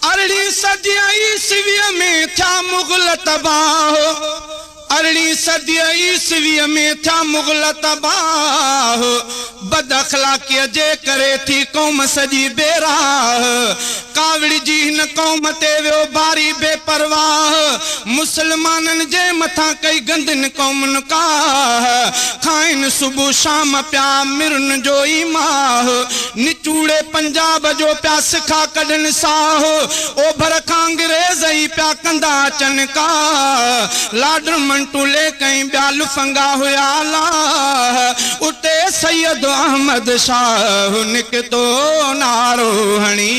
ارڙهين صديء عيسويء ۾ ٿيا مغل تباهه ارڙهين صديء عيسويء ۾ ٿيا مغل تباهه بد اخلاقيء جي ڪري ٿي قوم سڄي بي راهه ڪاوڙجي هن قوم تي ويو باري بي پرواهه مسلمانن جي مٿان ڪئي گندين قومن ڪاهه کائين صبح شام پيا مرن جو ئي ماهه نچوڙي پنجاب جو پيا سکا ڪڍن ساهه اوڀر کان انگريز ئي پيا ڪندا اچن ڪا لاڊر منٽو ليڪ ۽ ٻيا لفنگا هيا لاهه اتي سيد احمد شاهه نڪتو نعرو هڻي.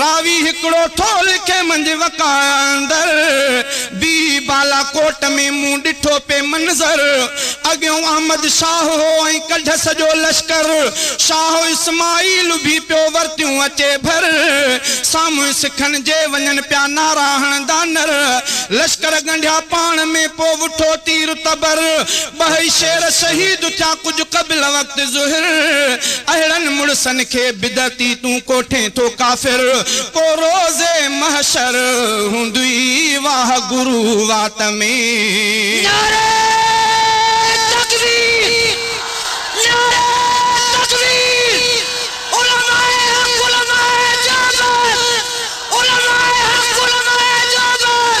راوي هڪڙو ٿو لکي منجهه وقاع اندر بي بالاڪوٽ ۾ مون ڏٺو پئي منظر اڳيون احمد شاهه هو ۽ ڪڍ سڄو لشڪر شاهه اسماعيل اڀي پيو ورتيون اچي ڀر سامهون سکن جي وڃن پيا نعرا هڻندا نر لشڪر ڳنڍيا پاڻ ۾ پو وٺو تير تبر ٻه ئي شعر شهيد ٿيا ڪجهه قبل وقت ظهر اهڙن مڙسن کي بدعتي تون ڪوٺين ٿو ڪافر پو روز محشر هوندئي واه گرو وات ۾. نعري تڪبير نعري تڪبير علماء حق علماء جابر علماء حق علماء جابر.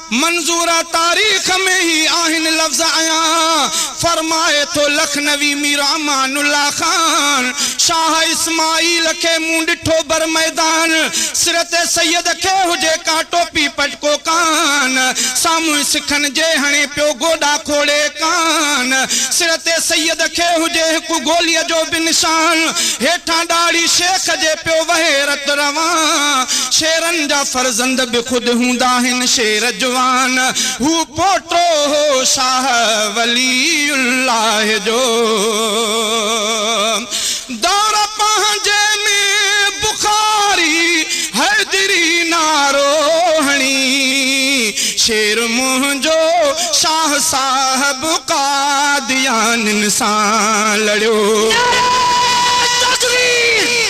منظوره تاريخ ۾ هي آهن لفظ ايان فرمائي ٿو لکنوي مير امان الله خان شاهه اسماعيل کي مون ڏٺو بر ميدان سرت سيد کي هجي ڪا ٽوپي پٽڪو ڪان سامهون سکن جي هڻي پيو گوڏا کوڙي ڪان سرت سيد کي هجي هڪ گوليء جو به نشان هيٺان ڏاڙهي شيخ جي پيو وهي رت روان شيرن ڪن جا فرزند به خود هوندا آهن شير جوان هو پوٽو هو شاهه ولي الله جو دور پنهنجي ۾ بخاري حيدري نعرو هڻي شير منهنجو شاهه صاحب قاديانين سان لڙيو. نعري تڪبير.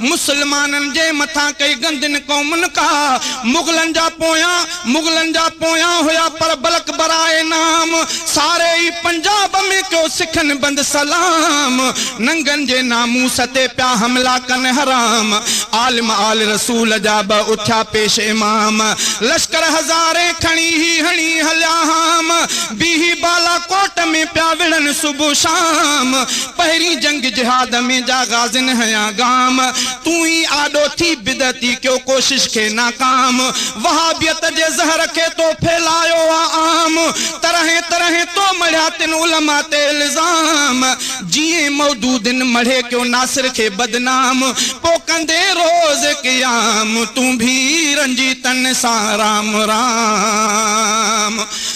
مسلمانن جي مٿان ڪئي گندين قومن ڪا مغلن جا پويان مغلن جا پويان هيا پر بلڪ برائي نام ساري ئي پنجاب ۾ ڪيو سکن بند سلام ننگن جي ناموس تي پيا حملا ڪن حرام عالم آل رسول جا به اٿيا پيش امام لشڪر هزارين کڻي هي هڻي هليا هام بيهي بالاڪوٽ ۾ پيا وڙهن صبح شام پهرين جنگ جهاد ۾ جا غازين هنيا گام تون ئي آڏو ٿي بدعتي ڪيو ڪوشش کي ناڪام وهابيت جي زهر کي تو ڦهلايو آ عام طرحين طرحين تو مڙهيا تن علماء تي الزام جيئن مودودين مڙهي ڪيو ناصر کي بدنام پو ڪندين روز قيام تون ڀي رنجيتن سان رام رام.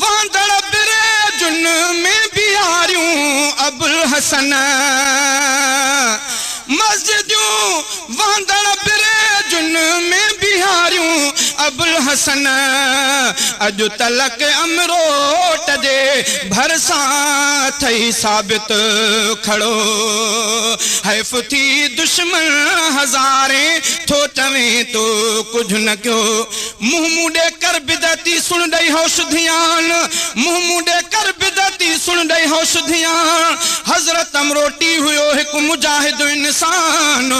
وهندڙ بريجن ۾ بيهاريون ابوالحسن مسجدون وهندڙ بريجن ۾ بيهاريون ابوالحسن اڄ تلڪ امروٽ جي ڀرسان ٿئي ثابت کڙو حيف ٿي دشمن هزارين ٿو چوين تو ڪجهه نه ڪيو منهن مون ڏي ڪر بدعتي سڻ ڏئي هوش ڌيان منهن مون ڏي ڪر بدعتي سڻ ڏئي هوش ڌيان حضرت امروٽي هيو هڪ مجاهد انسان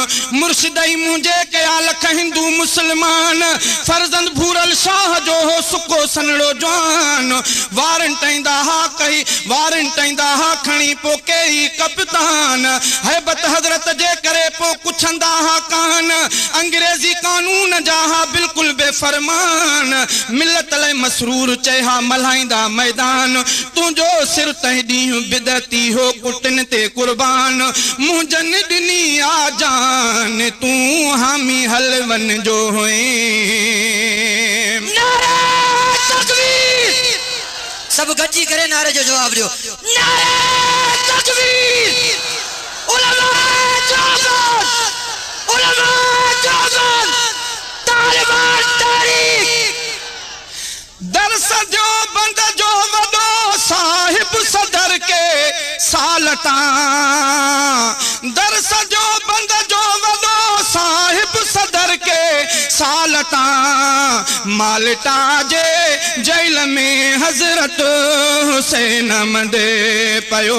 مرشد ئي منهنجي ڪيا لک هندو مسلمان فرزند ڀورل شاهه جو هو سڪو سنهڙو جوان وارنٽ ايندا ها ڪهي وارنٽ ايندا ها کڻي پو ڪيئي ڪپتان هيبت حضرت جي ڪري پو ڪڇندا ها ڪان انگريزي قانون جا ها بلڪل بي فرمان ملت لئه مسرور چئي ها ملهائيندا ميدان تنهنجو سر تنهن ڏينهن بدعتي هو ڪٽن تي قربان منهنجن ڏني آ جان تون حامي حلون جو هئين. نعره تڪبير سڀ گڏجي ڪري نعري جو جواب ڏيو نعره تڪبير. علماء جوزان علماء جوزان طالبان تحريڪ درس ديوبند جو وڏو صاحب صدر ڪي سال تان درس ديوبند جو وڏو صاحب صدر ڪي سال تان مالٽا جي جيل ۾ حضرت حسين مندي پيو